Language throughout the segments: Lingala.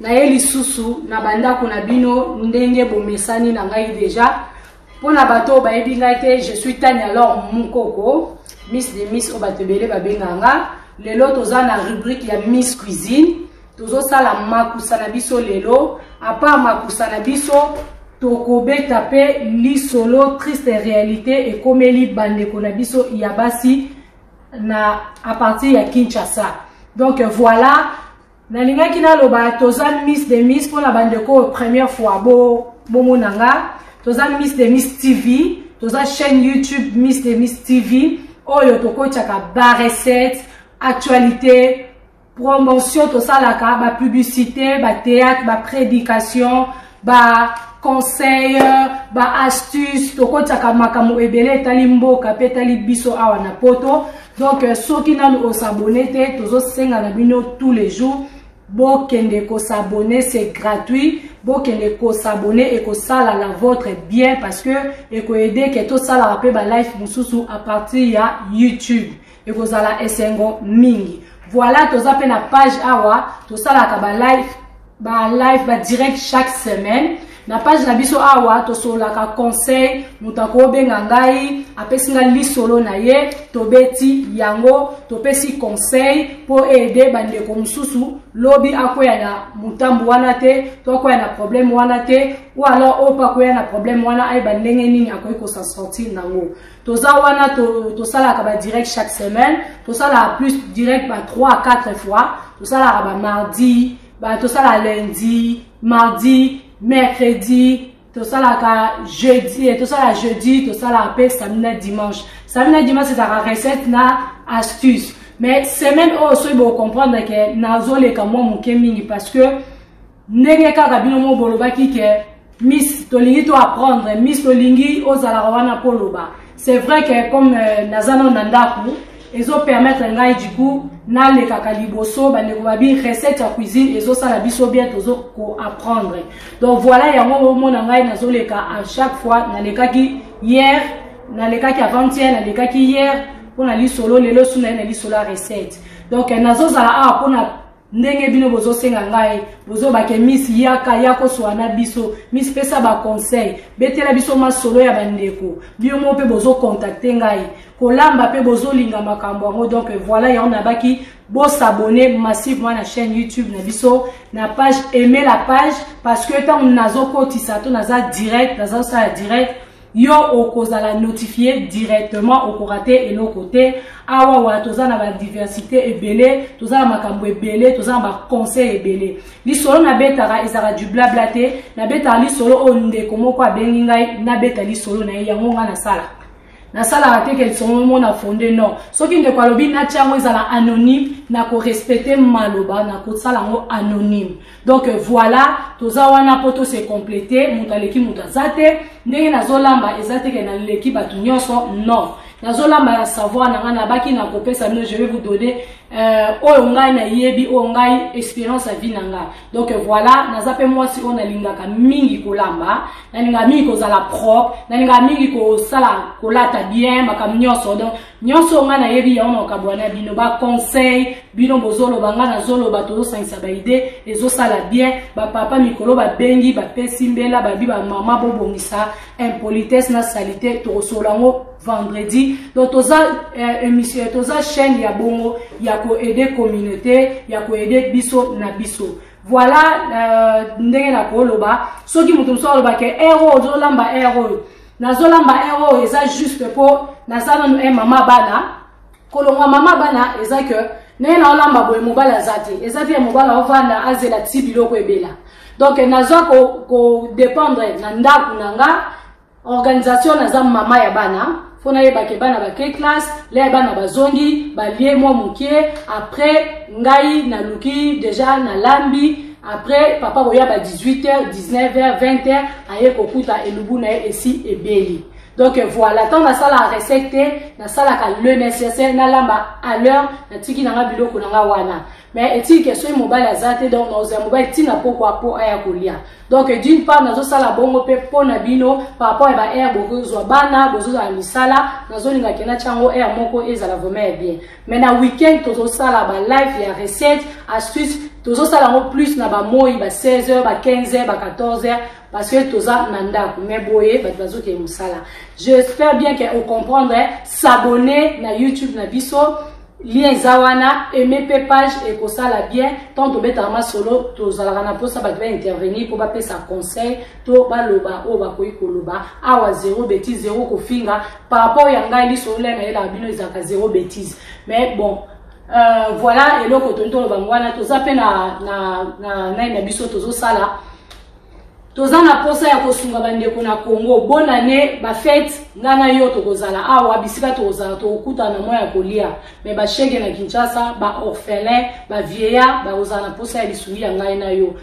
naye lisusu na bandako na bino ndenge bomesani na ngai deja mpo na bato oyo bayebi ngai te je suis tani alors mukoko miss de miss oyo bato ebele babengaka nga lelo toza na rubrike ya miss cuisine tozosala makusa na biso lelo apart makusa na biso tokobeta mpe lisolo triste réalité ekomeli bandeko na biso ya basi na apartir ya kinshasa donc voilà nalingaki naloba toza miss de miss mpo na bandeko oyo première fois bomona nga toza miss de miss tv toza chaîne youtube miss de miss tv oyo tokotyaka barecette actualité promotion tosalaka bapublicité batheatre baprédication ba ba conseil ba astuce tokotaka makambo ebele etali mboka mpe etali biso awa na poto donc euh, soki nanu osabone te tozosenga na bino tous les jours bokende kosabone c'est gratuit bokende kosabone ekosala na votre bien parce que ekoede ke tosalaka mpe balife mosusu à partir ya youtube ekozala esengo mingi voilà toza mpe na page awa tosalaka balive balive badirect chaque semaine na page na biso awa tosololaka conseil moto akobenga ngai apesi ngai lisolo na ye tobeti yango topesi conseil mpo aide bandeko mosusu lobi akwea na motambo wana te to akwea na problème wana te ou alors oyo mpe akwea na problème wana ayeba ndenge nini akoki kosa sortir nango toza wana tosalaka ba direct chaque semaine tosalaka plus direct ba 3 à 4 fois tosalaka ba mardi ba tosala lundi mardi mercredi tosalaka jeudi eh, tosala jeudi tosalaka mpe samedi na dimanche samedi na dimanche ezalaka recette na astuce mais semaine oyo soki bocomprendre ke nazoleka mwa moke mingi parce que ndenge kaka bino mo bolobaki ke miss tolingi to apprendre miss tolingi ozalaka wana mpo oloba c'est vrai que comme euh, naza nano na ndako ezopermettre ngai du coup nalekaka liboso bandeko babi recette ya cuisine ezosala biso bien tozo koapprendre donc voilà yango omona ngai nazoleka à chaque fois nalekaki hier nalekaki avant hier nalekaki hier mpo na lisolo lelo su na ye na lisolo ya recette donc nazozala awa mpo na ndenge bino bozosenga ngai bozobake miss yaka yako swa na biso miss pesa baconseil betela biso masolo ya bandeko bino moko mpe bozokontakte ngai kolamba mpe bozolinga makambo yango donc voilà yango nabaki bosabone massivement na chaîne youtube na biso na page aime la page parce que ntango nazokotisa to naza direct nazosala direct yo okozala notifie directement okorate eloko te awa wa toza na badiversité ebele toza na makambo ebele toza na baconseil ebele lisolo nabetaka ezalaka du blabla te nabetaka lisolo oyo ndeko moko abengi ngai nabeta lisolo na ye yango ngai nasala nasalaka te ke lisolo yango na fonde non soki ndeko alobi natya yango ezala anonyme nakorespecte maloba nakosala yango anonyme donc voilà toza wana mpo tose complete moto aleki moto aza te ndenge nazolamba eza teke naleki bato nyonso non nazolamba ya savoir na ngai nabaki na kopesa bino je vais vous donner euh, oyo ngai nayebi oyo ngai expérience ya vie na ngai donc voilà naza mpe mwasi oyo nalingaka mingi kolamba nalingaka mingi kozala propre nalingaka mingi kosala kolata bien makambo nyonso donc nyonso oyo ngai nayebi yango na kokabola na bino baconseil bino bozoloba ngai nazoloba tozosangisa baide ezosala bien bapapa mikolo babengi bapesi mbela babi bamama bobongisa impolitesse na salite tokosolola yango vendredi donc toza euh, émission toza chaîne ya bongo ya koaide communauté ya koaide biso na biso voilà euh, ndenge nakoloba soki moto mosusu aloba ke ero ozolamba ero oyo nazolamba e eh, oyo eza juste mpo naza nanu e eh, mama bana kolongwa mama bana eza ke ndenge naolamba boye mobali aza te eza te mobali aovanda azela ti biloko ebela donc nazwa kodépendre ko na ndako na nga organisation naza mama ya bana mpo nayebake bana bake classe lea bana bazongi balie mwa moke après ngai naluki deja nalambi après papa koya ba 18 heures 19 heures 20 heures aye kokuta elubu na ye esi ebeli donc voilà ntango nasalaka recette te nasalaka le nécessaire nalamba à l'heure natiki na nga biloko na nga wana mais etiki ke soki mobali aza te donc nakozala mobali ntina pokwa mpo aya kolia donc d'une part nazosala bongo mpe mpo na bino par rapport ya ba aire bokozwa bana bozozala misala nazolingaki natya yango aire moko ezala vraiment ya bien mais na week-end tozosala ba live ya recette astuce tozosala yango plus na bamoi ba 16 heures ba 15 heures ba 14 heures parce que toza na ndako mais boye bato bazokende mosala j'espère bien que ocomprendre s'abonner na youtube na biso lien eza wana aime mpe page ekosala bien ntango tobetaka masolo tozalaka na mposa bato baintervenir mpo bapesa conseil to baloba oyo bakoki koloba awa zero beti zero kofinga par rapport ya ngai liso olia na yelaka bino ezalaka zero bétise mais bon euh, voilà eloko toni toloba yango wana toza mpe na, na, na nani na biso tozosala toza na mposa ya kosunga bandeko na congo bonane bafete ngai na yo tokozala awa bisika tokozala tokokutana na mwa ya kolia me bashege na kinshasa baorphelin bavieillard bakozala na mposa ya lisungi ya ngai na yo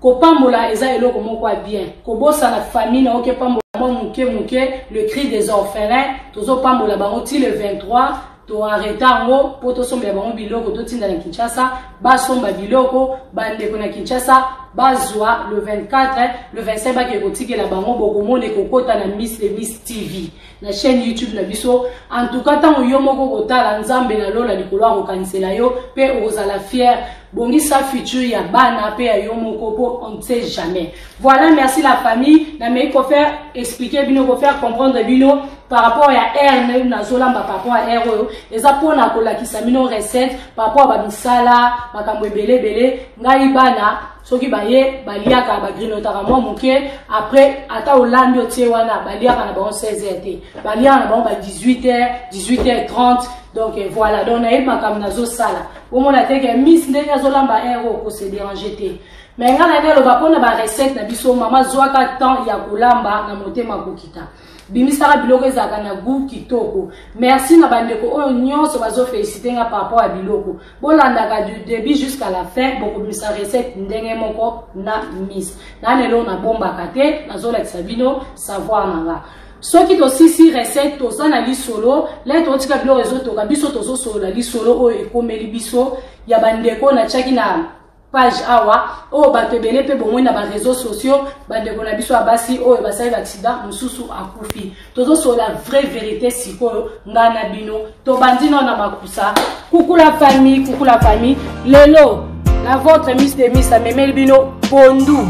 kopambola eza eloko moko ya bien kobosana famille na oke pambola mwa moke moke le cri des orphelins tozopambola bango ti le 23 toarreta yango mpo tosombela bango biloko totinda na kinshasa basomba biloko bandeko na kinshasa bazwa le 24 le 25 bakee kotikela bango bokomona ekokota na miss le miss tv na chaîne youtube na biso en tout cas ntango yo moko okotala nzambe na lola likolo akokanisela yo mpe okozala fière bongisa futur ya bana mpe ya yo moko mpo on ne sait jamais voilà merci la famille namei kofaire explique bino kofaire comprendre bino par rapport ya aire nazolamba par rapport ya aire oyo eza mpona kolakisa bino recette par rapport ya bamisala makambo ebele ebele ngai bana soki baye baliaka bagrinotaka mwa moke après ata olambi otie wana baliaka na bango 16 heures te baliaka na bango ba 18 heures 18 heures 30 donc eh, voilà donc nayebi makambo nazosala omona te ke miss ndenge azolamba heure oyo kose dérange te me ngai na nde aloba mpo na barecette na biso mama zwaka temps ya kolamba na motema kokita bimisaka biloko ezalaka na gout kitoko merci na bandeko oyo nyonso bazofelisite nga par rapport ya biloko bolandaka du début jusqu'à la fin bokobimisa recette ndenge moko na mise na lelo nabombaka te nazolakisa bino savoir na nga soki tosisi recette toza na lisolo le totika biloko ezotoka biso tozosolola lisolo oyo ekomeli biso ya bandeko natyaki na page awa oyo bato ebele mpe bomoi na bareseau sociaux bandeko na biso ya basi oyo basali baksida mosusu akufi tozosolola vraie verité sikoyo ngai na bino tobandi nao na makusa kukula famille kukula famille lelo la votre miss de miss amemeli bino pondu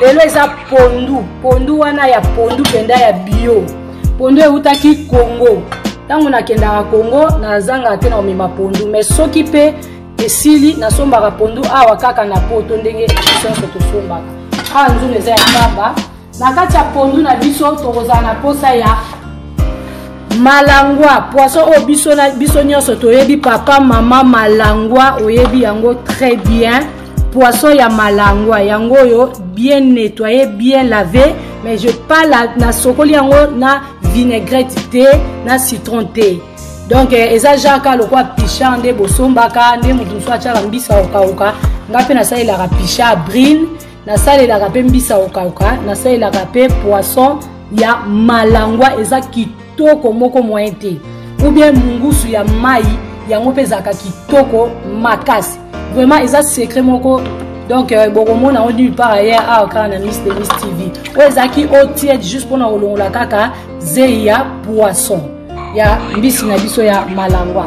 lelo eza pondu pondu wana ya pondu mpenza ya bio pondu eutaki congo ntango nakendaka congo nazangaka te na komema pondu mais soki mpe esili nasombaka pondu awa kaka na poto ndenge sonso tosombaka awa nzungu eza ya pamba na kati ya pondu na biso tokozala na mposa ya malangwa poisson oyo biso, biso nyonso toyebi papa mama malangwa oyebi yango très bien poisson ya malangwa yango oyo bien nettoye bien lave mais je parle nasokoli yango na vinaigrette te na citron te donc eh, eza jaka lokwa picha nde bosombaka nde moto mosusu atyaka mbisa okauka ngai mpe nasalelaka picha brine nasalelaka mpe mbisa okauka nasalelaka mpe poisson ya malangwa eza kitoko moko moyen te ou bien mungusu ya mai yango mpe ezalaka kitoko makasi vraiment eza secret moko donc euh, bokomona yango nulle part ailleurs awa kaka na miss de miss tv oyo ezalaki otiede juste mpona kolongola kaka zei ya poisson ya mbisi na biso ya malangwa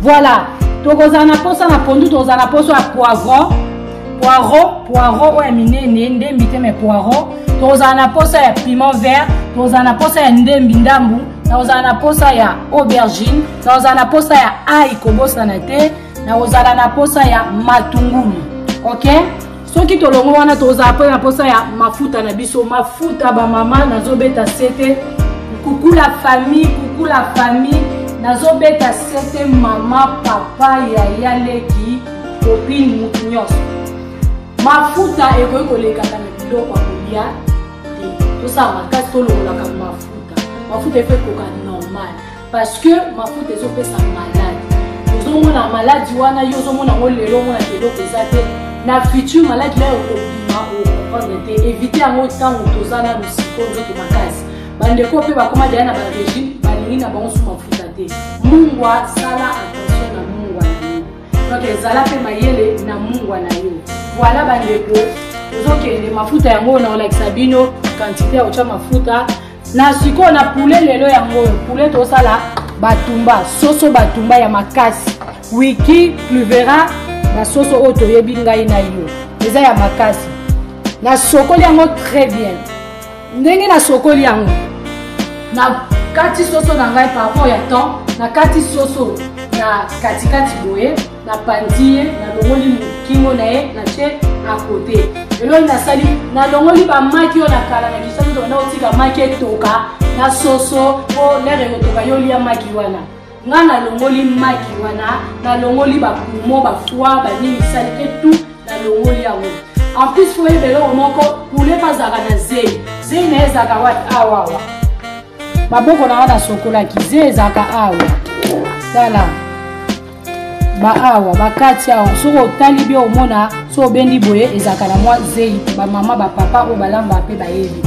voilà tokozala na mposa na pondu tokozala na mposa ya poivron poireau poireau oyo ya minene ndembi te mai poireau tokozala na mposa ya piment vert tokozala na mposa ya ndembi ndambu nakozala na mposa ya aubergine nakozala na mposa ya ai kobosana te nakozala na mposa ya matungulu okay soki tolongo wana tozala mpe na mposa ya mafuta na biso mafuta bamama nazobeta sete kukula famille kukula famille nazobeta sete mama papa yaya leki kopine motu nyonso mafuta ekoki kolekaka na biloko ya kolia te tosala makasi tolongolaka mafuta mafuta efe ekoka normal parce que mafuta ezopesa malade ozomona maladi wana yo ozomona yango lelo omona eloko eza te na futur maladi nayo okobima okomprendre te evite yango ntango toza na mosiko nzoto makasi bandeko mpe bakoma deya na barégime balingi na bango su mafuta te mungwa sala attention na mungwa na yo donc ezala mpe mayele na mungwa na yo voilà bandeko ozokende mafuta yango na kolakisa bino kantite ya kotya mafuta na sikoyo na poulet lelo yango oyo poulet tosala batumba soso batumba ya makasi wiki pluvera basoso oyo toyebi ngai na yo eza ya makasi nasokoli yango très bien ndenge nasokoli yango nakati soso na ngai par rapport ya temps nakati soso na katikati boye napanzi ye nalongoli mokingo na ye na ce akote eloi nasali nalongoli bamaki oyo na kala na kisaki tokenda kotika maki etoka na soso mpo lere ekotoka yo lia maki wana nga nalongoli maki wana nalongoli bapumo bafoi banini sali te tu nalongoli yango en plus fo oyeba eloko moko pule mpe azalaka na zei zei na ye ezalaka wati awawa maboko na nga nasokolaki zei ezalaka awa tala baawa bakati awa soki otali bie omona so obendi boye ezalaka na mwa zeyi bamama bapapa oyo balamba mpe bayebi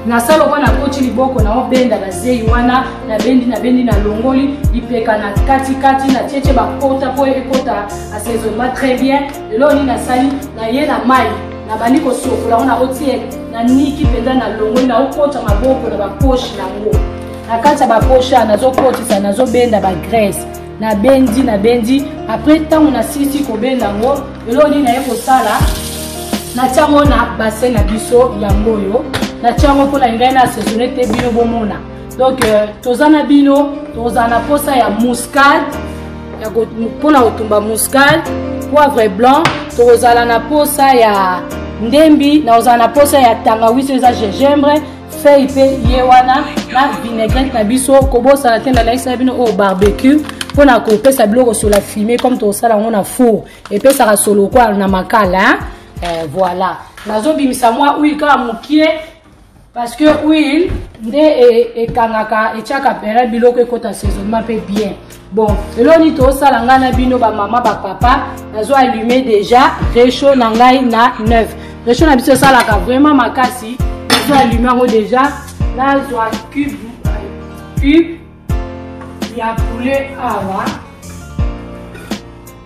nasala okoa nakoti liboko na obenda bazeyi wana nabendi nabendi nalongoli lipeka na katikati na tietie bakota mpo ekota asezonba très bien lelo nini nasali naye na mai nabandi kosokola ngo naotie na niki mpenza nalongoli naokota maboko na baposhe yango na kati ya baposhe nazokotisa nazobenda bagrese nabendi nabendi apres ntango nasilisi kobenda yango eloko nini naye kosala natya yango na basin na biso yango oyo natya yango mpo na ngai na asesone te bino bomona donc euh, toza na bino tozala na mposa ya muscade mpo na kotumba muscade poivre blanc tokozala na mposa ya ndembi nakozala na mposa ya tangawisi eza gingembre fei mpe ye wana na vinaigrette na biso kobosana te nalakisaka bino oyo barbecue mpo na kopesa biloko sola fume comme tokosala yango na four epesaka solo kwa na makala eh, voilà nazobimisa mwa huile kaka mokie parce que huile nde e, ekangaka etyaka pere biloko ekota saisonnement mpe bien bon eloko nini tosala ngai na bino bamama bapapa nazo allume déjà recho na ngai na 9 recho na biso esalaka vraiment makasi nazo allume yango déjà nazwa cube cube ya poulet awa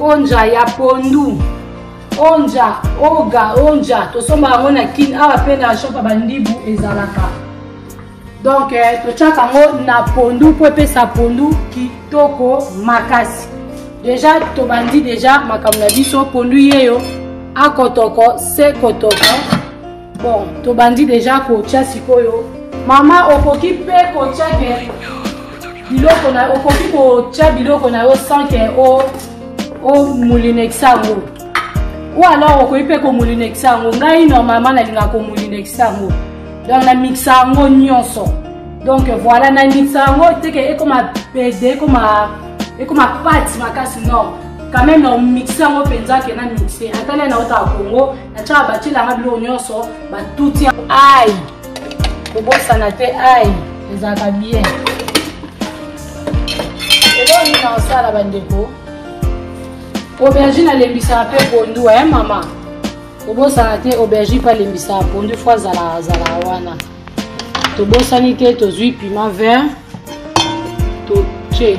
onja ya pondu onja oga onja tosombaka yango na kin awa mpe na shop ya bandibu ezalaka donk eh, totyaka yango na pondu mpo epesa pondu kitoko makasi deja tobandi deja makambo na biso pondu yeyo akotoko se kotoko bon tobandi deja kotya sikoyo mama okoki mpe kotya ke biloko na okoki kotya biloko na yo sans ke omulinekisa yango ou alors okoki mpe komulinekisa yango ngai normalement nalingaka komulinekisa yango donc namikisa yango nyonso donc voilà namikisa yango teke ekoma pede ekoma ekoma pati makasi non quand même na omixe yango mpenza ke na mixe atali na otala kongo atyaka batyelanga biloko nyonso batuti ai kobosana te ai ezalaka bien eloko nini nakosala bandeko aubergine alembisaka mpe pondu e mama kobosana te aubergine mpe alembisaka pondu fo azalaka azalaka wana tobosani te tozwi piment vert totie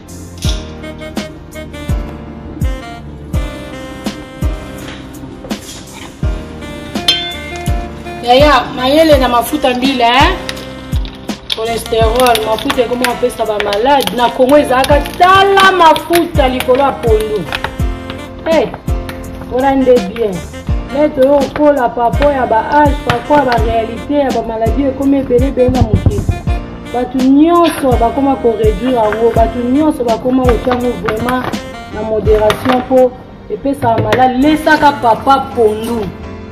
yaya mayele na mafuta mbila eh? cholesterol mafuta ekomi apesa bamalade na kongo ezalaka tala mafuta likolo ya pondu hey, eh, wana nde bien nete oyo okola papo ya baage papo ya barealité ya bamaladi ekomi ebele ebele na mokili bato nyonso bakoma koreduire yango bato nyonso bakoma kotya yango vraiment na moderation mpo epesaka malali lesaka papa pondu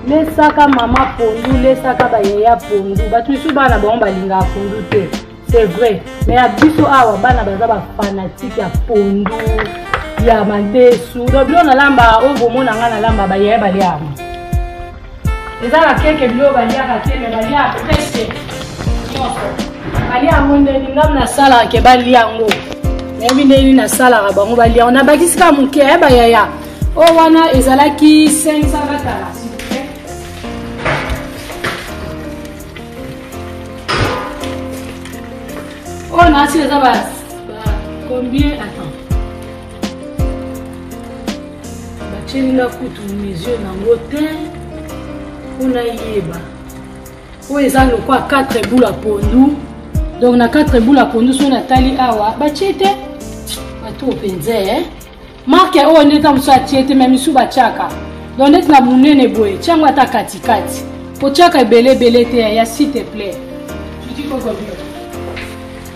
lesaka mama pondu lesaka bayeya pondu bato misusu bana bango balingaka pondu te c'est vrai mais ya biso awa bana baza bafanatike ya pondu ya madesu donc bilo nalamba oyo bomona ngai nalamba bayeya baliaka eza na keke biloko baliaka te me balia prese nyonso balia yango ndeni ngam nasalaka ke balia yango nayebi ndeni nasalaka bango balia yango nabakisi kaka moke ya bayaya oyo wana ezalaki 500 batala oyo nasi eza ba combien attends batyeli nga kutu mesure nango te mpo nayeba oyo eza lokwa 4 bula pondu donc na 4 bula pondu soki natali awa batye te bato mpenza eh? marke oyo nde ntango mosusu atye te me misu batyaka donc ndeti na monene boye tyango ata katikati kotyaka ebele ebele te ya site plaît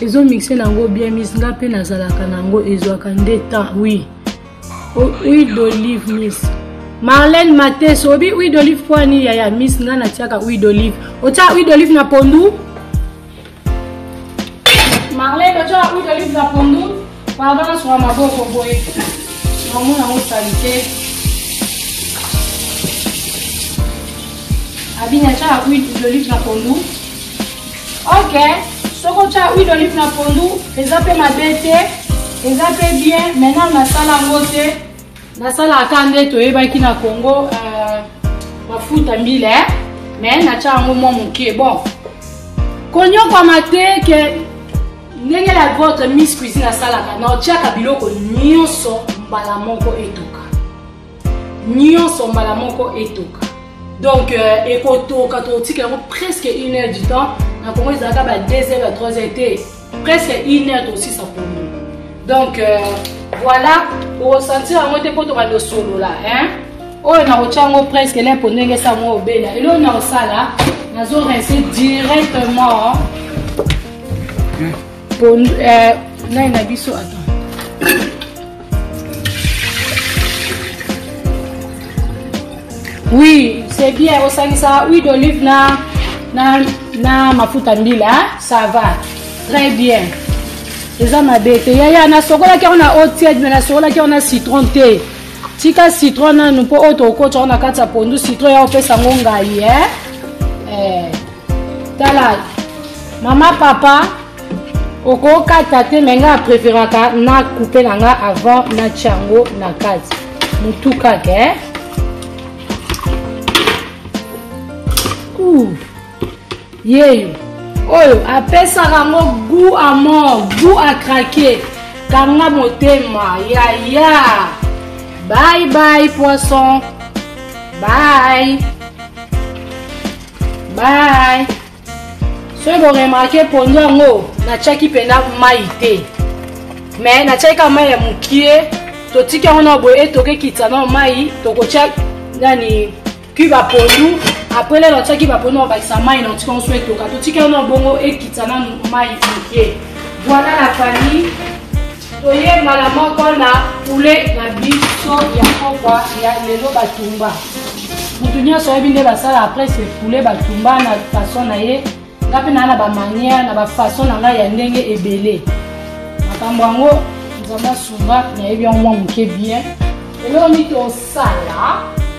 ezo mixe nango bien mis nga mpe nazalaka nango ezwaka nde temps oui huile d'olive mis marlene mates obi huile d'olive mpo ani yaya mis nga natiaka huile d'olive otya huile d'olive na pondu marlene otya huile d'olive na pondu Pardon, na sua maboko boye. Mamu na musalite. Abina cha huile d'olive na pondu. Ok. Soko cha huile d'olive na pondu, eza pe mabe te. Eza pe bien. Maintenant na sala ngo te. Na sala aka nde toyebaki na Congo euh, mafuta mbila eh? Mais na cha ngo mwa moke. Bon. Konyokwama te ke ndenge la votre miss cuisine asalaka na otyaka biloko nyonso mbala moko etoka nyonso mbala moko etoka donc euh, ekotoka tokotika yango presque une heure du temps na kongo ezalaka ba 2 heures ya 3 heures te presque une heure tosisa pondu donc euh, voilà okosentir yango te mpo toka tosolola hein oyo nakotya yango presque le mpo ndenge esa yango obela eloko nakosala nazo rince directement pondu eh, nani na biso ata oui c'est bien osangisa huile d'olive na, na, na mafuta mbila ça va très bien eza mabe te yaya nasokolaki yango na eau tiede me nasokolaki yango na citron te tika citron nanu mpo oyo tokokotya yango na kati ya pondu citron ya opesa yango ngai e eh? eh. tala mama papa okokata te me ngai apreferaka na coupe na ngai avant natya yango na kati motu kaka eh? yeyo oyo apesaka yango gout à mort gout à craquer kanga motema yaya bye bye poisson bye Bye. soki boremarke pondu yango natyaki mpenza mai te me natyaki kaka mai ya mokie totiki yango na boye ete okekitisa na mai tokotya nani kiba pondu apres lelo natyaki bapondu na bakisa mai na otiki yango so etoka totiki yango na bongo ekitisa na mai mokie voilà la famille Toye mbala moko na poulet na biso ya kokwa ya lelo batumba. Mutu nyonso ayebi nde basala après ce poulet batumba na façon na ye nga mpe naa na bamanière na bafaçon na ngai ya ndenge ebele makambo yango nzambe asunga nayebi yango mwa moke bien eloko nini tosala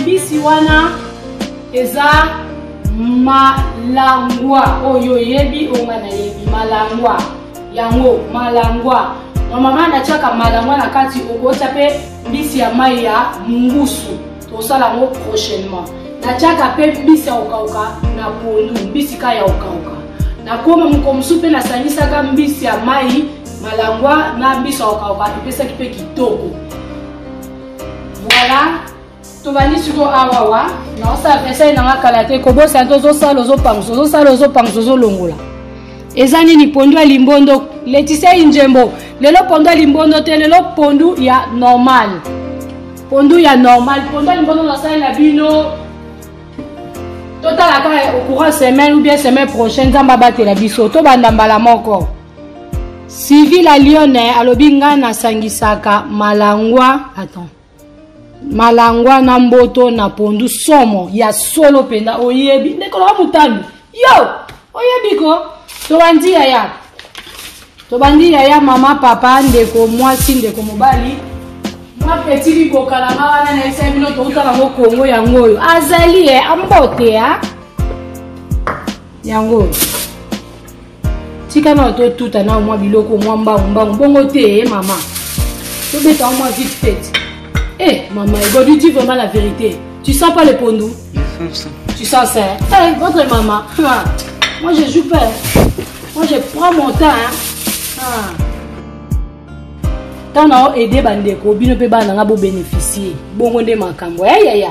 mbisi wana eza malangwa oyo oh, oyebi oyo oh, nga nayebi malangwa yango malangwa mamama natiaka malangwa na kati okotya mpe mbisi ya mai ya mungusu tosala yango prochainement natiaka mpe mbisi ya kokauka na pondu mbisi ka ya kokauka nakoma moko mosusu mpe nasangisaka mbisi ya mai malangwa na mbisi ya kokauka epesaki mpe kitoko Voilà. tobandi siko awawa naosala vesai nanga kala te kobosana te ozosala ozopangusa ozosala ozopangusa ozolongola eza nini pondu ya limbondo letisia injembo lelo pondu ya limbondo te lelo pondu ya normal pondu ya normal pondu ya limbondo nasalela bino totalaka okura semaine ou bien semaine prochaine nzambe abatela biso tobanda mbala moko Sylvie la Lyonne alobi nga nasangisaka malangwa attends malangwa na mboto na pondu somo ya solo mpenza oyebi ndeko loka motambi yo oyebi ko tobandi yaya tobandi yaya mama papa ndeko mwasi ndeko mobali mwa peti biboka na nga wana nayebisa bino touta nango kongo yango oyo azali e ambote a yango oyo tika nao totuta nao mwa biloko mwa mbangu mbangu bongo te e mama tobeta mwa vite fete e eh, mama ego du ti vraiment la vérité tu sens pas le pondu tu sens ça hey, eh, votre maman ah, moi je joue pas moi je prends mon temps hein. ah. ntango nao aide bandeko bino mpe bana na nga bobénéficie bongo nde makambo yayaya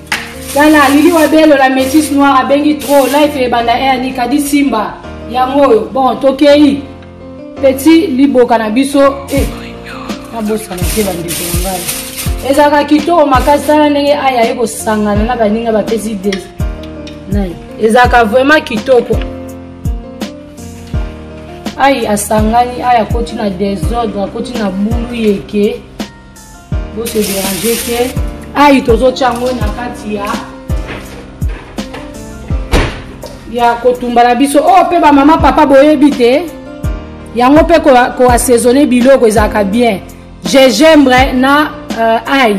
tala lili wa belo la metis noir abengi trop life ebanda eani kadi simba yango oyo bon tokei peti liboka na biso eh, nabosana te bandeko na ngai ezalaka kitoko makasi tala ndenge aya ye kosangana na baninga bapesi de nai ezalaka vraiment kitoko ai asangani ai akoti na desordre akoti na bulu yeke Bo se déranger te. Ayi tozotia yango na kati ya ya kotumba na biso oyo oh, mpe bamama papa boyebi te yango mpe koassaisonne biloko ezalaka bien gingembre na uh, ai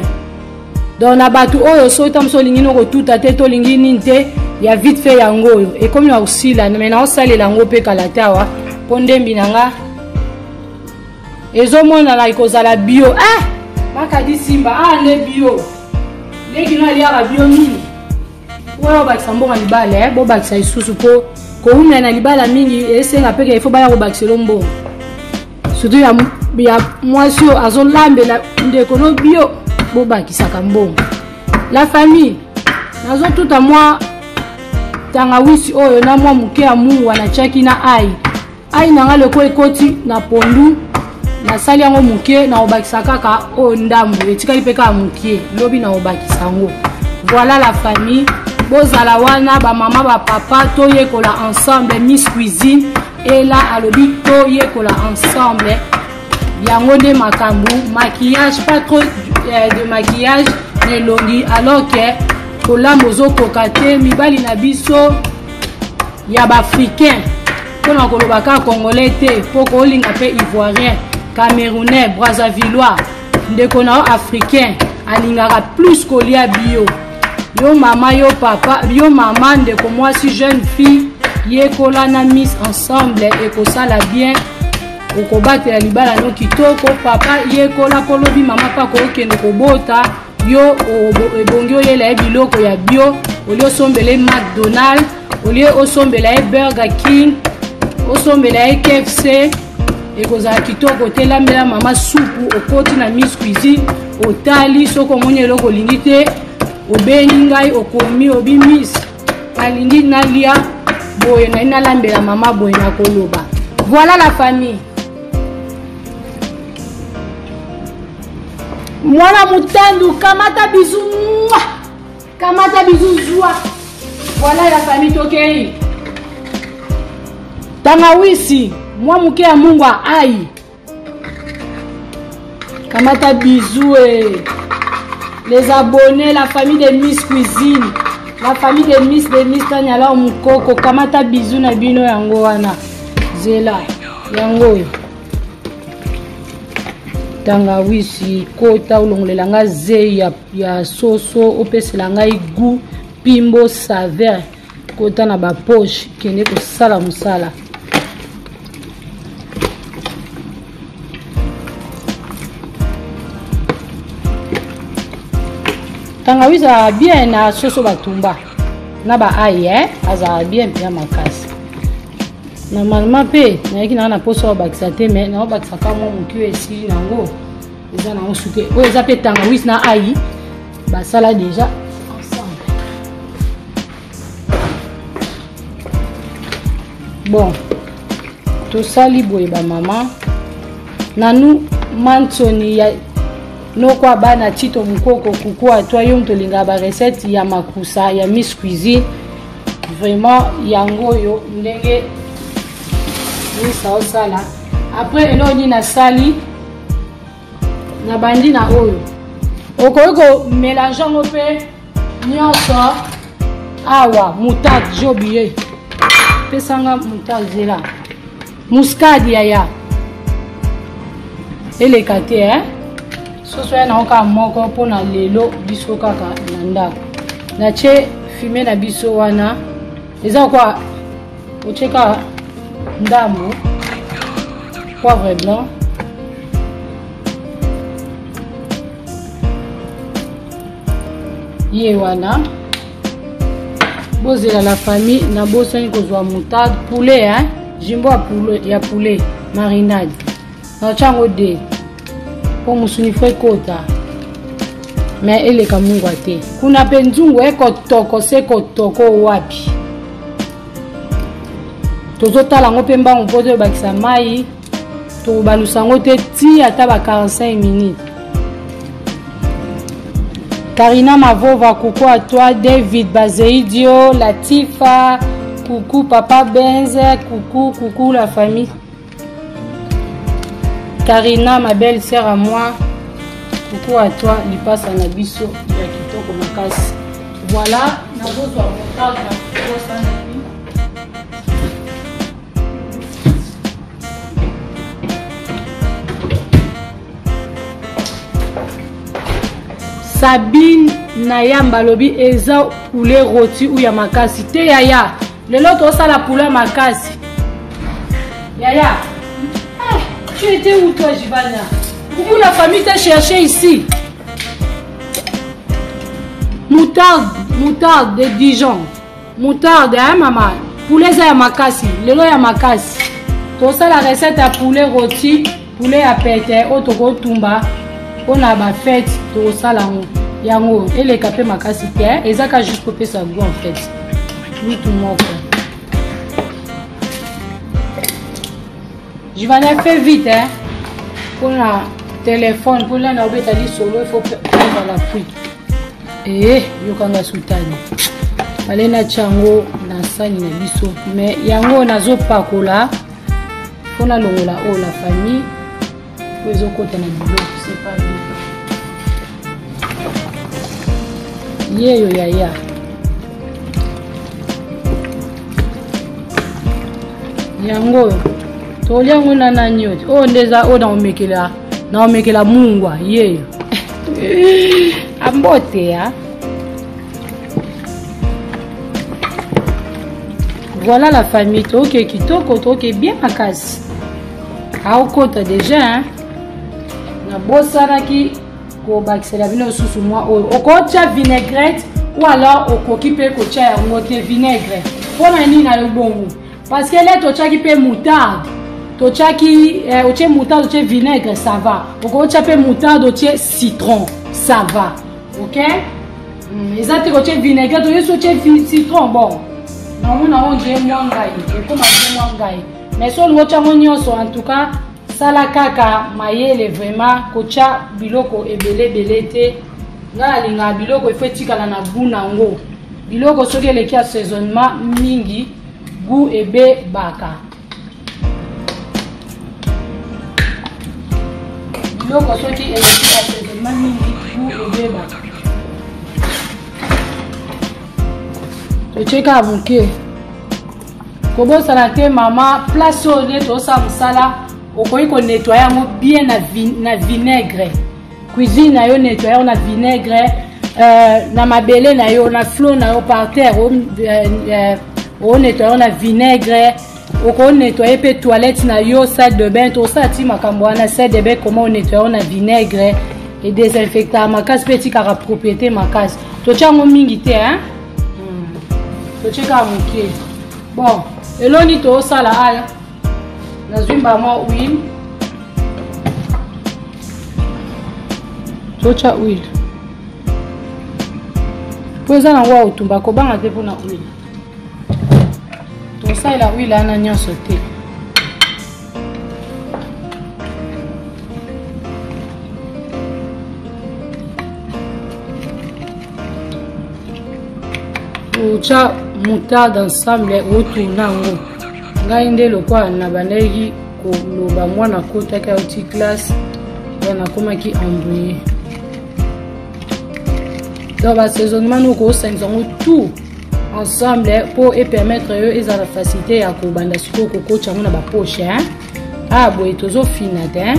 donc na bato oyo soki ta mosu olingi no kotuta te to olingi nini te ya vite fait yango oyo ekomi na kosila me naosalela yango mpe kala te awa mpo ndembi na nga ezomonana ekozala bio eh! makadi simba awa ah, nde bio nde kino aliaka bio mingi oyo bakisa mboka libala eh? bobakisa lisusu mpo kowumela na libala mingi esenga mpe kefo baya kobakisa elo mbongo surtout ya, ya mwasi oyo azolambela ndeko no bio bobakisaka mbongo la famille nazotuta mwa tangawisi oyo na mwa moke ya mungwa natyaki na ai ai na ngai loko ekoti na pondu nasali yango moke nakobakisa kaka oyo ndambu etikali mpe kaka moke lobi nakobakisa yango voilà la famille bozala wana bamama bapapa toyekola ensemble miss cuisine ela alobi toyekola ensemble yango nde makambo maquillage pas trop euh, de maquillage na elongi alors ke kolamba ozokoka te mibali na biso ya ba africain mpo na koloba kaka congolais te mpo koolinga mpe ivoirien camerounais brazzavillois ndeko na yo africain alingaka plus kolia bio yo mama yo papa yo mama ndeko mwasi jeune fille yekola na miss ensemble ekosala bien okobatela libala no kitoko papa yekola kolobi mama mpe akokende kobota yo ebongi oyela ye biloko ya bio olie osombela ye mcdonald olie osombela ye burger king osombela ye kfc ekozala kitoko te lambela mama supu okoti na miss cuisine otali soki omoni eloko olingi te obengi ngai okomi obi miss nalingi nalia boye nai nalambela mama boye nakoloba voilà la famille mwana motandu kamata bizu mwa kamata bizu zwa voilà ya famille tokei tangawisi mwa moke ya mungu ya ai kamata bizu e eh. les abonnés la famille de miss cuisine la famille de miss de miss tanyala mokoko kamata bizu na bino yango wana zela yango oyo tangawisi kota olongolela nga zei ya, ya soso opesela ngai gout pimbo saveur kota na bapoche kende kosala mosala tangawisi azala bien na soso batumba na baaye eh? azala bien mpenza makasi normalement mpe nayaki nanga na mposa obakisa te mai naobakisa ka mwa moki oyo esili nango eza nango suke oyo eza mpe tangawisi na ai basala deja ensemble bon tosali boye bamama nanu mansoni ya noko abana tito mokoko kuku atwa yo moto olingaka barecette ya makusa ya miss cuisine vraiment yango oyo ndenge misa osala après eloko nini nasali nabandi na oyo okoki komelange yango mpe nyonso awa moutarde jobiye pesanga moutarde zela Muscade yaya. Eleka te hein. Soso ya na oka moko pona lelo biso kaka na ndako. Na che fime na biso wana. Eza kwa ocheka ndambo poivre blanc ye wana bozela la famille nabosani kozwa moutarde poulet hein? jimbo ya poulet, ya poulet marinade naotya yango de mpo mosuni fo ekota me eleka mungwa te kuna mpe nzungu ekotoko se kotoko wapi tozotala yango mpe mbangu mpo toyebakisa mai tokobalusa yango te ti ata ba 45 minutes karina mavova kuku a toi david bazeidio latifa kuku papa benze kuku kuku la famille karina ma belle sœur à moi kuku a toi lipasa na biso ya kitoko makasi voilà nazozwa motaka sabine na yamba alobi eza poulet roti ou ya makasi te yaya lelo tosala poulet ya makasi yaya ah, tu étais où toi jibana où la famille t'a cherché ici moutarde moutarde de dijon moutarde hein mama poulet eza ya makasi lelo ya makasi tosala recette ya poulet roti poulet ya pete oyo tokotumba mpo na bafete tokosala yango yango eleka mpe makasi te eza ka juste kopesa goût en fait lutu moko jivana fait vite hein? mpona telefone mpona na obeta lisolo ifo prendre la pluie ee yokanga sutani ale natya yango na sani na biso me yango nazopakola mpo nalongola oyo la famille oyo ezokota na biloko sepa yeyo yaya yango oyo tolya yango na nani oyo oyo nde eza oyo na omekela naomekela mungwa ye ambote ya voilà la famille toke kitoko toke bien makasi aokota deja hein? nabosanaki kobakisela bino lisusu mwa oyo okotya vinaigrette ou alors okoki mpe kotya yango te vinaigre mpo na nini na yo bongo Parce que là tochaki pe moutarde. Tochaki eh, otie moutarde, otie vinaigre, ça va. Okotia pe moutarde, otie citron, ça va. OK? Mm, eza te kotie vinaigre, toye so otie citron bon. Na mona on je mwa ngai, ekoma je mwa ngai. Mais so olingo tiango nyonso en tout cas sala kaka mayele vraiment kotya biloko ebele ebele te ngai nalingaka biloko efo etikala na gout nango biloko soki eleki assaisonnement mingi Gout ebe baka. Biloko soki eleki asezema mingi gout ebe baka. Totie kaka moke. Kobosana te mama place oyo nde tosala mosala okoki konettoye yango bien na, vin, na vinaigre cuisine na yo nettoyer on a vinaigre euh, na mabele na yo na flot na yo par terre o euh, euh, oh, nettoyer on a vinaigre okoki nettoyer mpe toilette na yo salle de bain tosala ti makambo wana salle de bain comment onettoyer na vinaigre edesinfectaka makasi mpe etikaka propriété makasi totya yango mingi te hein? Hmm. totyekaka moke bon eloni tosala aya nazwi mbala mwa huile totya huile mpo eza nango ya otumba kobanga te mpona huile tosalela huile ana nyonso te otya moutarde ensemble otourna yango ngai nde lokola nabandaki koloba mwana akotaki auti classe ya nakomaki embrouille donc basaisonnement noko osangisa yango tout ensemble mpo epermettre yo ezala facilité ya kobanda sikoyo kokotya yango na bapoche hein? ah boye tozofina te hein?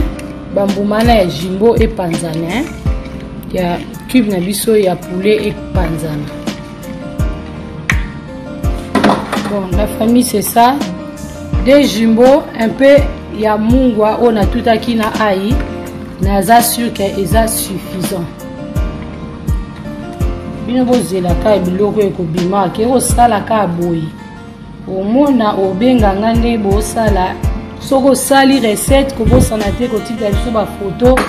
bambuma na ya jimbo epanzana hein? ya cube na biso ya poulet epanzana Bon, la famille c'est ça. Des jumbo, un peu ya mungwa oyo natutaki na ai naza sur ke eza suffisant bino bozelaka biloko ekobima ke ekosala kaka boye omona obenga nga nde bosala soki osali recette kobosana te kotika biso bafoto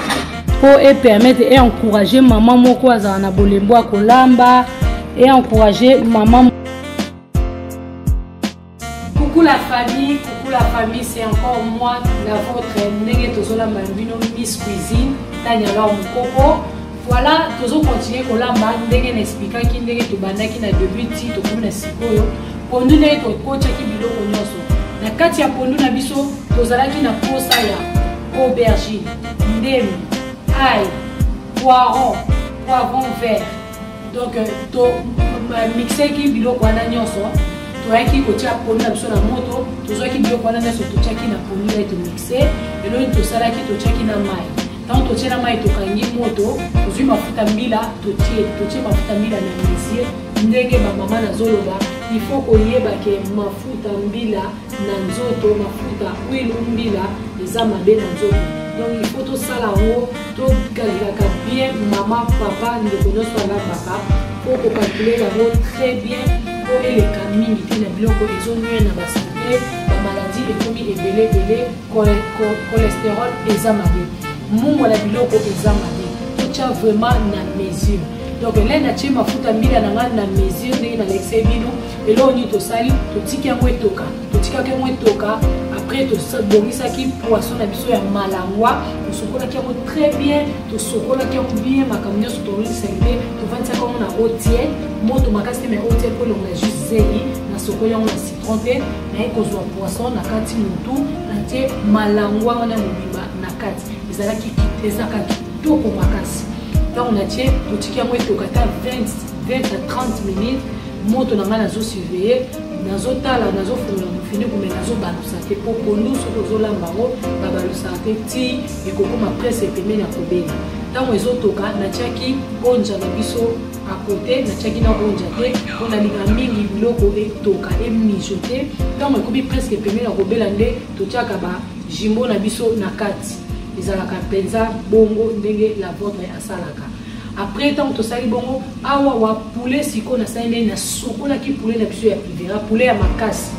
mpo epermettre e encourage mama moko azala na bolembo ya kolamba e encourage mama coucou la famille coucou la famille c'est encore moi la vôtre ndenge tozolamba bino miss cuisine tanialor mokoko Voilà, tozo continuer kolamba ndenge na expliquaki ndenge tobandaki na début ti tokomi na sikoyo pondu ndenge tokotaki biloko nyonso na kati ya pondu na biso tozalaki na posa ya aubergine ndemi ai poiron poivron vert donc euh, to euh, mixeki biloko wana nyonso toyaki kotia pondu na biso na moto tozwaki biloko wana nyonso totiaki na pondu na ye tomixe eloni tosalaki totiaki na mai ntango totie na mai tokangi moto tozwi mafuta mbila totie totie mafuta mbila na mesie ndenge bamama nazoloba ifo koyeba ke mafuta mbila na nzoto mafuta huile mbila eza mabe na nzoto donc ifo tosala yango tokalelaka bien mama papa ndeko nyonso alabaka mpo kokalkule yango très bien mpo eleka mingi te na biloko ezonwe na basante bamaladi ekomi ebele ebele cholesterol eza mabe mungo na biloko eza mabe totya vraiment na mesure donc elai natye mafuta mbila na ngai na mesure ndenge nalekisai bino eloko nini tosali totiki yango etoka totikaki yango etoka après tobongisaki poisson na biso ya malangwa tosokolaki yango très bien tosokolaki yango bien makambo nyonso tolisa te tovandisaki yango na otie moto makasi te mai otie mpo elongola juste zeli nasokoli yango na trompe naye kozwa poisson na kati motu natie malangwa wana mobimba na kati ezalaki ezalaka kitoko makasi ntango natie totiki yango etoka ata 20 20 à 30 minutes moto na ngai nazosurveille nazotala nazofungola mofiniku me nazobalusa te mpo pondu soki ozolamba yango babalusaka te ti ekokoma prese pembeni ya kobela ntango ezotoka natiaki onja na biso à côté natiaki na ronja te mpo nalinga mingi biloko etoka emiso te ntango ekomi presque pembe na kobela nde totyaka bajimbo na biso na kati ezalaka mpenza bongo ndenge la votre asalaka après ntango tosali bongo awa wa poulet sikoyo nasali ndenge nasukolaki poulet na biso ya privera poulet ya makasi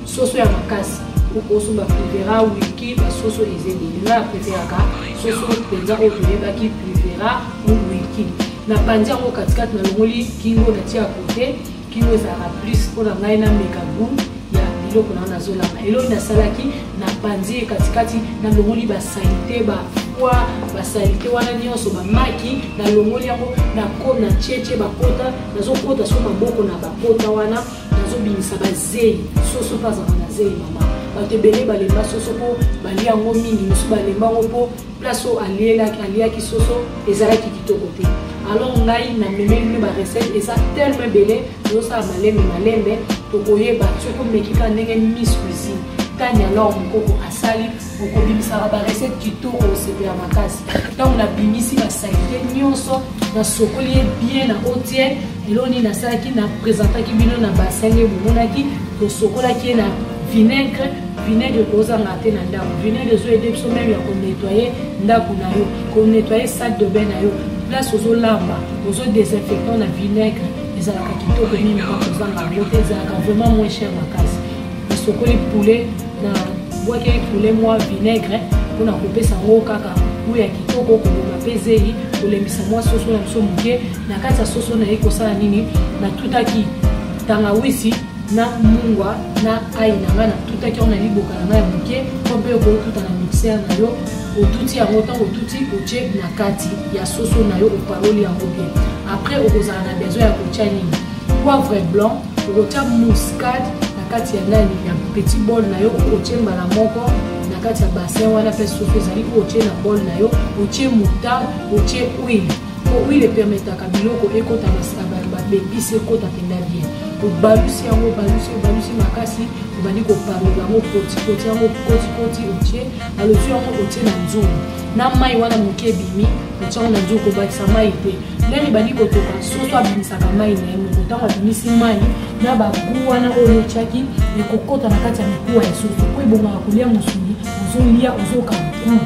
soso ya makasi okoso baprivera wiki basoso ezeli nga ya preferaka soso mpenza oyo toyebaki privera ou wiki napanzi yango katikati nalongoli kingo natia kote kingo ezalaka plus mpo na ngai nameka gout ya biloko na nazolamba eloi nasalaki napanzi ye katikati nalongoli basalite ba poa basalite wana nyonso bamaki nalongoli yango nakomi na tiece bakota nazokota so maboko na bakota wana nazobimisa bazei soso mpe azalaka na zei mama bato ebele balemba soso mpo balia yango mingi mosusu balemba yango mpo place oyo alielaki aliaki soso ezalaki kitoko te alors ngai namemeli bino barecette eza telme ebele tozosala malembe malembe tokoyeba soki omeki kaka ndenge miss cuisine tani alors mokoko asali okobimisaka barecette kitoko osepela makasi ntango nabimisi basalite nyonso nasokoli ye bien na otiel eloo nini nasalaki napresentaki bino na basenge bomonaki tosokolaki ye na vinaigre vinaigre kozanga te na ndako vinaigre ezo aide biso meme ya konetoye ndako na yo konetoye salle de bain na yo place ozolamba ozo desinfectant na vinaigre ezalaka kitoko mingi kozanga yango te ezalaka vraiment moins cher makasi nasokoli poulet na bwakeli poulet mwa vinaigre mpona kopesa yango kaka gu ya kitoko koboma mpe zeyi kolembisa mwa soso na biso moke na kati ya soso naye kosala nini natutaki tangawisi na mungwa na ayi na ngai natutaki yango na liboka na ngai ya moke to mpe okoki otuta na mixere na yo otuti yango ntango otuti otye na kati ya soso na yo opaloli yango bien après okozala na besoin ya kotya nini poivre blanc okotya muscade na kati ya nani ya petit bol na yo otye mbala moko na kati ya bassin wana mpe soso ezali oyo otye na bol na yo otye moutarde otye huile Huile epermetaka biloko ekota babebisi ekota mpenza bien obalusi yango obalusi obalusi makasi obandi kopalola yango kotikoti yango kotikoti otie alozi yango otie na nzungu na mai wana moke ebimi otie yango na nzungu kobakisa mai te ndenge ebandi kotoka soso abimisaka mai na ye moko ntango abimisi mai na bagu wana oyo otyaki ekokota na kati ya mikuwa ya soso mpo ebongaka kolia mosuni ozolia ozoka mokulu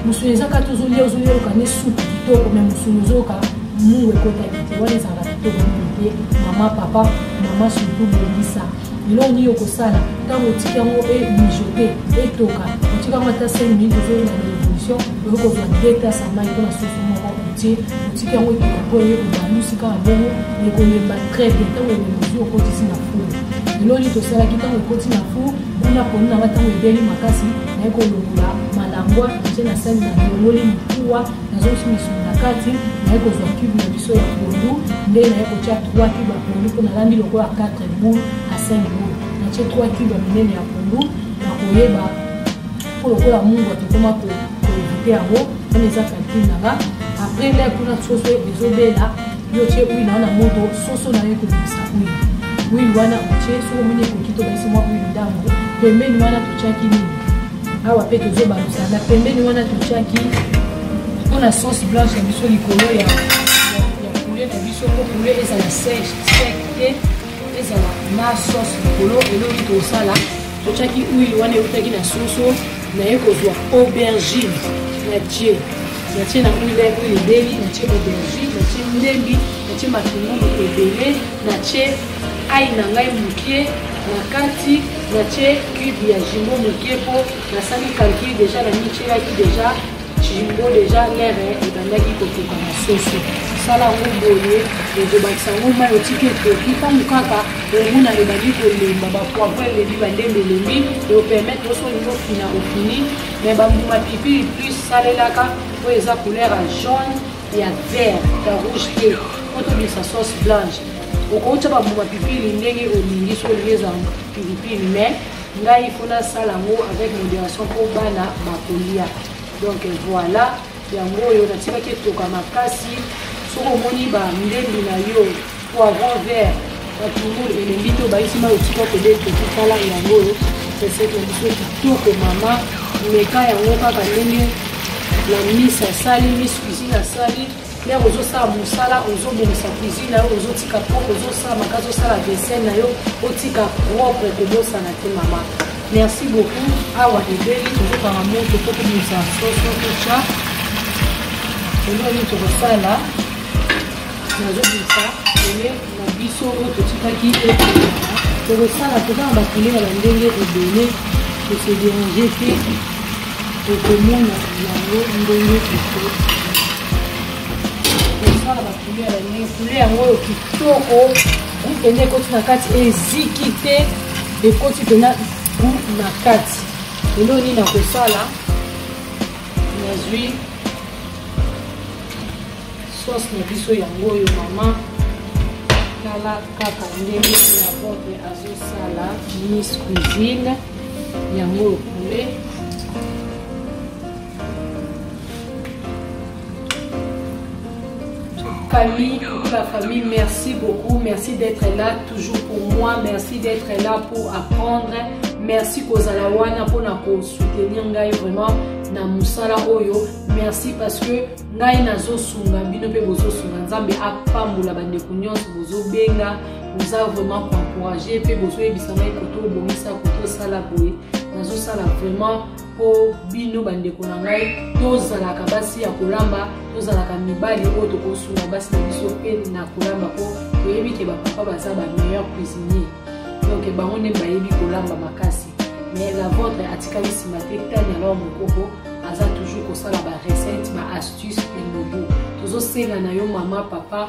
musuni eza kati ozolia ozolia oyoka nde supu kitoko me musuni ozoyoka mungu ekotaki te wana ezalaka kitoko mingi te mama papa mama surtout bongisa eloko nini okosala ntango otiki yango emijote etoka otiki yango ata 5 minute ozoyina na révolution oyo kozwa detas ya mai mpona soso moko otie otiki yango etoka mpo eye kobalusi kaka bongo ekolemba très bien ntango elemba ozwi okotisi na four eloko nini tosalaki ntango ekoti na four Kuna poni na ngai ntango ebeli makasi naye kolongola malangwa nje na sani na longoli mikuwa nazongisi misuni na kati naye kozwa cube na biso ya pondu nde naye kotya 3 cube ya pondu mpo nalambi lokola 4 boule a 5 boule natye 3 cube ya minene ya pondu na koyeba mpo lokola mungu atokoma koevite yango wana eza calcule na nga après lè kuna soso ezobela yo tie huile wana moto soso na yo ekobimisa huile huile wana otie soki omoni ekoki tobakisi mwa huile ndambo pembeni wana totiaki nini awa mpe tozobalusa na pembeni wana totiaki mpo na sauce blanche ya biso likolo ya poulet na biso mpo poulet ezala sec sec te ezala na sauce likolo elongi tosala totiaki huile wana eutaki na soso naye kozwa aubergine na tie natie na huile oyo ebeli natie aubergine natie ndembi natie matungulu ebele natie ai na ngai moke na kati natie cube ya jimbo moke mpo nasali calcul deja na mitielaki deja jimbo deja lere ebandaki kotoka na soso sala yango boye ezobakisa yango mai otiki ekoki ntango kaka omona ebandi kolemba bapoivre elembi bandembe elembi eopermettre oso olingi ofina ofini mais bambuma pilipili plus salelaka oyo eza couleur ya jaune ya vert ya rouge te po tobimisa sauce blanche okouta bambuma pilipili ndenge olingi so olingi ezwa pilipili mais ngai mpo nasala yango avec modération mpo bana bakolia donc voilà Yango oyo natikaki etoka makasi. Soki omoni ba ndembi na yo, poivron vert, matungulu elembi te obaisi mai otika pede etoki tala yango oyo recette na biso kitoko mama meka yango kaka ndenge na misi asali misi cuisine asali nde ozosala mosala ozobongisa cuisine na yo ozotika propre ozosala makasi osala vaisselle na yo otika propre kobosana te mama Merci beaucoup. Awa ebeli tozokanga moto mpo tobimisa soso totya eloko nini tokosala nazobimisa ele na biso oyo totikaki ekela tokosala toza na bakile ya bandenge ebele tose derange te tokomona yango ndenge eko tosala bakile ya bandenge kule yango oyo kitoko groupe nde ekoti na kati eziki te ekoti mpena gu na kati lelo nini nakosala nazwi sauce na biso yango oyo mama tala kaka ndenge na bote azosala miss cuisine yango oyo poulet famille, pour la famille, merci beaucoup. Merci d'être là toujours pour moi. Merci d'être là pour apprendre. Merci kozala wana pour na ko soutenir ngai vraiment na musala oyo. Merci parce que ngai nazo sunga bino pe bozo sunga Nzambe apambola ba ndeko nyonso bozo benga boza vraiment encourager pe bozo yebisa ngai koto bongisa koto sala boye. Nazo sala vraiment mpo bino bandeko na ngai tozalaka basi ya kolamba tozalaka mibali oyo tokosunga basi na biso mpe na kolamba mpo toyebi ke bapapa baza ba meilleur cuisinier donc bango nde bayebi kolamba makasi mais la vôtre atikali nsima te tani alors mokoko aza toujours kosala ba recette ba astuce elobo tozosenga na yo mama papa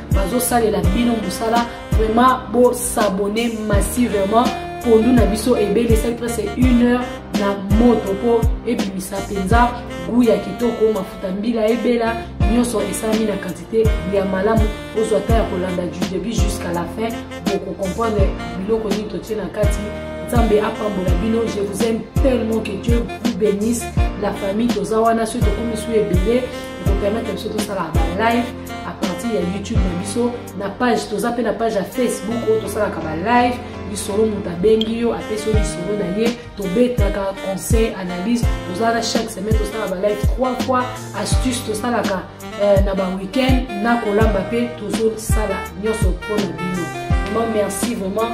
bazosalela bino mosala vraiment bosabone massivement pondu na biso ebele esali presque une heure na moto mpo ebimisa mpenza gu ya kitoko mafuta mbila ebela nyonso esalami na kantite ya malamu ozwa ta ya kolanda du début jusqu'à la fin bokokomprendre biloko nini totie na kati nzambe apambola bino je vous aime tellement que dieu vous bénisse la famille toza wana soki tokomi su ebele ekopermettre biso tosala balive à partir ya youtube na biso na page toza mpe na page ya facebook oyo tosalaka balive lisolo moto abengi yo apesi yo lisolo na ye tobetaka conseil analyse tozala na chaque semaine tosalaka balive 3 fois astuce tosalaka eh, na baweekend na kolamba mpe tozosala nyonso mpo na bino vraiment merci vraiment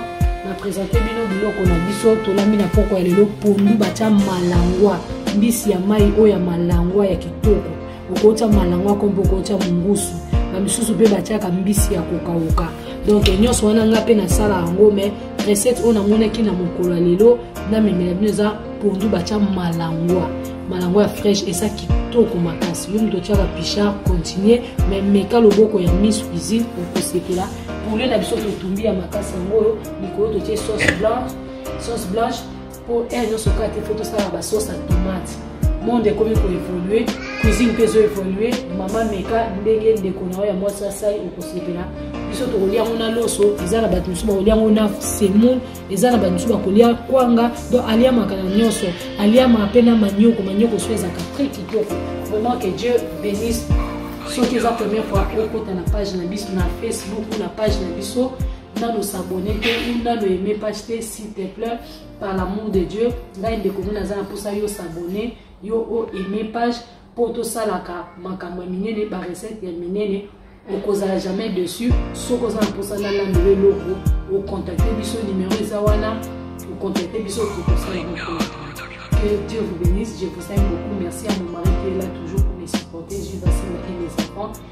na présente bino biloko na biso tolambi na poko ya lelo pondu batya malangwa mbisi ya mai oyo ya malangwa ya kitoko okotya malango akombo okotya mongusu bamisusu mpe batyaka mbisi ya kokauka donk nyonso wana ngai mpe nasala yango mai recette oyo namonaki na mokolo ya lelo namemela bino eza pondu batya malangwa malangwa ya fraîche eza kitoko makasi yo moto otyaka pichard continue mai meka loboko ya miss cuisine okosepela poulet na biso totumbi ya makasi yango oyo likolo totye sauce blanche sauce blanche mpo heure nyonso kaka te fo tosala basauce ya tomate monde ekomi koevolue cuisine mpe ezoevolue mama meka ndenge ndeko na yo ya mwasi asali okosepela biso tokolia yango na loso eza na bato mosusu bakolia yango na semoule eza na bato mosusu bakolia kwanga donc aliamaka na nyonso aliamaka mpe na manioko manioko so ezalaka très kitoko vraiment que dieu bénisse soki eza première fois okota na page na biso na facebook ou na page na biso nano s'abonner te ou nano aime page te s'il te plaît par l'amour de dieu ngai ndeko ngai naza na mposa yo s'abonner yo o aime page mpo tosalaka makambo ya minene barecette ya minene okozala jamais dessus soki oza na mposa nalanda yo eloko ocontacte biso numero eza wana ocontacte biso okokosala que dieu vous bénisse je vous aime beaucoup merci à mon mari qui est là toujours pour me supporter je vais et mes enfants